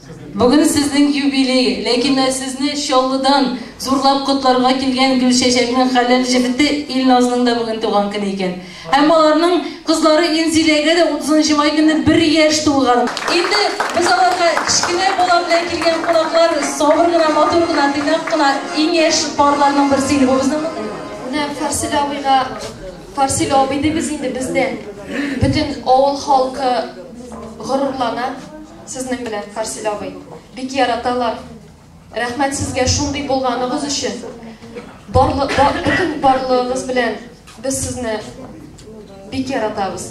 Бүген сезнең юбилей, ләкин дә сезне Чаллыдан зурлап котларга килгән Гөлчәчәкнең хәләл җефете Илназның да бүген туган көне икән. Һәм аларның кызлары Инзиләгә дә 30 май көнне бер яшь тулган. Инде без аларга кечкенә бала белән килгән кунаклар, сабыр гына, матур гына, тыйнак кына иң яшь парларның берсе иде бу безнең. Менә Фарсил абыйга Фарсил абый дибез инде без дә. Бөтен авыл халкы горурлана. Сезнең белән Фарсил абый. Бик яраталар. Рәхмәт сезгә шундый булганыгыз өчен. Барлык бөтен барлыгыгыз белән без сезне бик яратабыз.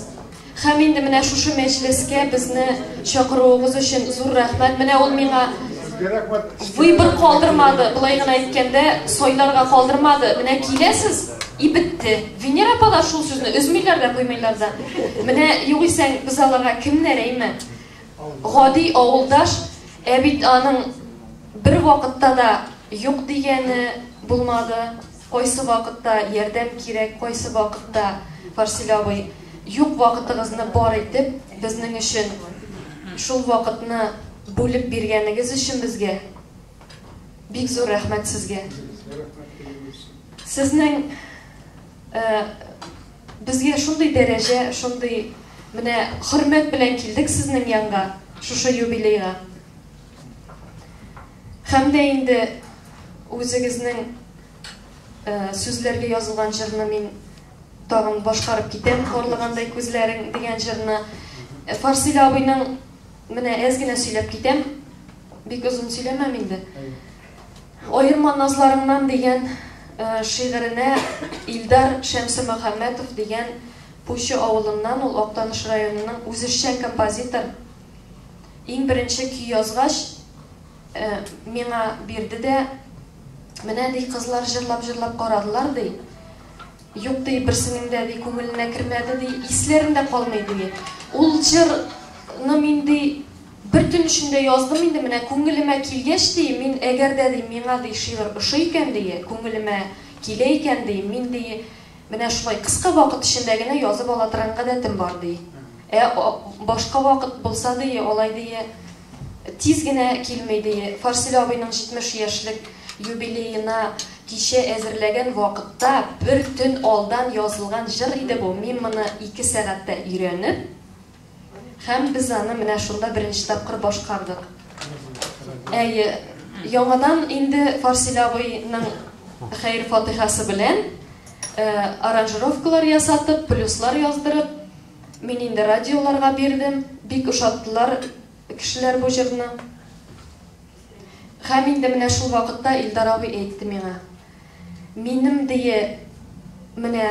Хәм инде менә шушы мәҗлескә безне чакыруыгыз өчен зур рәхмәт. Менә ул миңа выбор калдырмады. Былай гына әйткәндә, сайларга калдырмады. Менә киләсез, и бетте. Венера апа да шул сүзне өзмиләр дә, куймыйлар да. Менә югыйсәң без аларга кемнәр әйме? Гади авылдаш, ә бит аның бер вакытта да юк дигәне булмады, кайсы вакытта ярдәм кирәк, кайсы вакытта, Фарсель абый, юк вакытыгызны бар итеп, безнең өчен шул вакытны бүлеп биргәнегез өчен безгә бик зур рәхмәт сезгә. Сезнең Ә безгә шундый дәрәҗә, шундый менә хөрмәт белән килдек сезнең янга, шушы юбилейга. Һәм дә инде үзегезнең э, сүзләргә язылган җырны мин тагын башкарып китәм, Хорлыгандай күзләрең дигән җырны. Э, Фарсил абыйның менә әз генә сөйләп китәм, бик озын сөйләмәм инде. Аерма назларыңнан дигән шигыренә Илдар Шәмсемөхәммәтов дигән Пучы авылыннан, ул Актаныш районының үзешчән композитор, иң беренче көй язгач, миңа бирде дә, менә, ди, кызлар җырлап-җырлап карадылар, ди, юк, ди, берсенең дә, ди, күңеленә кермәде, ди, исләрендә калмый, ди. Ул җырны мин, ди, Бер төн эчендә яздым инде, менә күңелемә килгәч, ди, мин, әгәр дә, ди, миңа, ди, шигырь ошый икән, ди, күңелемә килә икән, ди, мин, ди, менә шулай кыска вакыт эчендә генә язып ала торган гадәтем бар, ди. Ә башка вакыт булса, ди, алай, ди, тиз генә килми, ди. Фарселе абыйның 70 яшьлек юбилеена кичә әзерләгән вакытта бер төн алдан язылган җыр иде бу, мин моны ике сәгатьтә өйрәнеп, Һәм без аны менә шунда беренче тапкыр башкардык. Әйе, яңадан инде Фарсил абыйның хәйр фатихасы белән э, аранжировкалар ясатып, плюслар яздырып, мин инде радиоларга бирдем. Бик ошаттылар кешеләр бу җырны. Һәм инде менә шул вакытта Илдар абый әйтте миңа, Минем дөе менә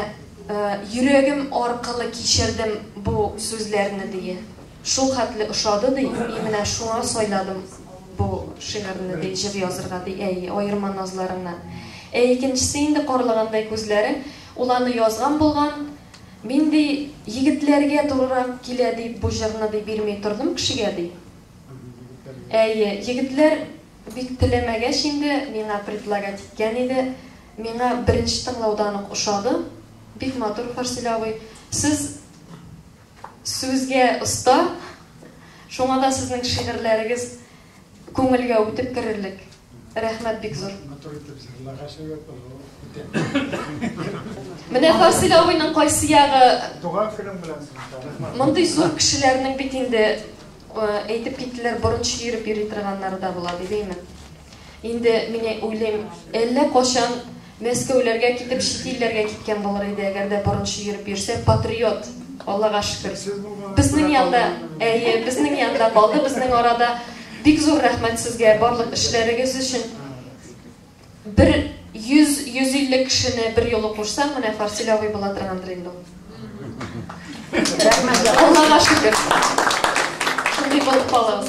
йөрәгем аркылы кичердем бу сүзләрне дөе. Шул хәтле ошады ди, мин менә шуңа сайладым бу шигырьне ди, җыр язырга ди, әй, аерма назларыңнан. Ә икенчесе инде карлагандай күзләре, ул аны язган булган, мин ди егетләргә турырак килә дип бу җырны ди бирми тордым кешегә ди. Әйе, егетләр Бик теләмәгәч инде, миңа предлагать иткән иде. Миңа беренче тыңлаудан ук ошады. Бик матур, Фарсил абый. Сез сүзгә оста, шуңа да сезнең шигырьләрегез күңелгә үтеп керерлек. Рәхмәт бик зур. Матур итеп җырлагач, Менә Фарсил абыйның кайсы ягы? Туган көнең белән сезне. Мондый зур кешеләрнең бит инде Әйтеп киттеләр, борын чөереп йөри торганнары да була, дибейме? Инде мин уйлыйм, әллә качан Мәскәүләргә китеп, чит илләргә киткән булыр иде, әгәр дә борын чөереп йөрсә, патриот. Аллага шөкер. Безнең янда, әйе, безнең янда калды, безнең арада. Бик зур рәхмәт сезгә барлык эшләрегез өчен. Бер 100-150 кешене бер юлы кушсаң, менә Фарсил абый була торгандыр инде ул. Рәхмәт. Аллага шөкер. Шундый булып калыгыз.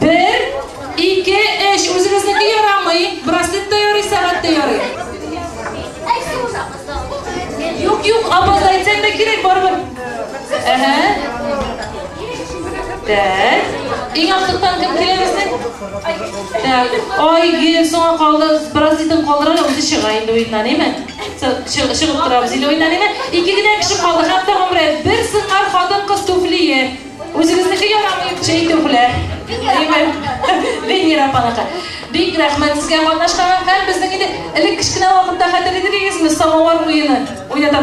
Бер, ике, өч. Үзегезнеке ярамый. Браслет та ярый, сәгать тә ярый. Юк, юк, апа, әйтсәң дә кирәк, барыбер. Әһә. Так. Иң актыктан кем килә безнең? Так. Ай, гел соңа калды. Браслетын калдыра да үзе чыга инде уеннан, әйме? Чыгып торабыз инде уеннан, әйме? Ике генә кеше калды, хәтта гомре. Бер сыңар хатын-кыз туфлие. Үзегезнеке ярамый, үкче итү белән. Венера апаныкы. Бик рәхмәт сезгә катнашканга. Һәм безнең инде элек кечкенә вакытта хәтерлидегезме самовар уены? Уйната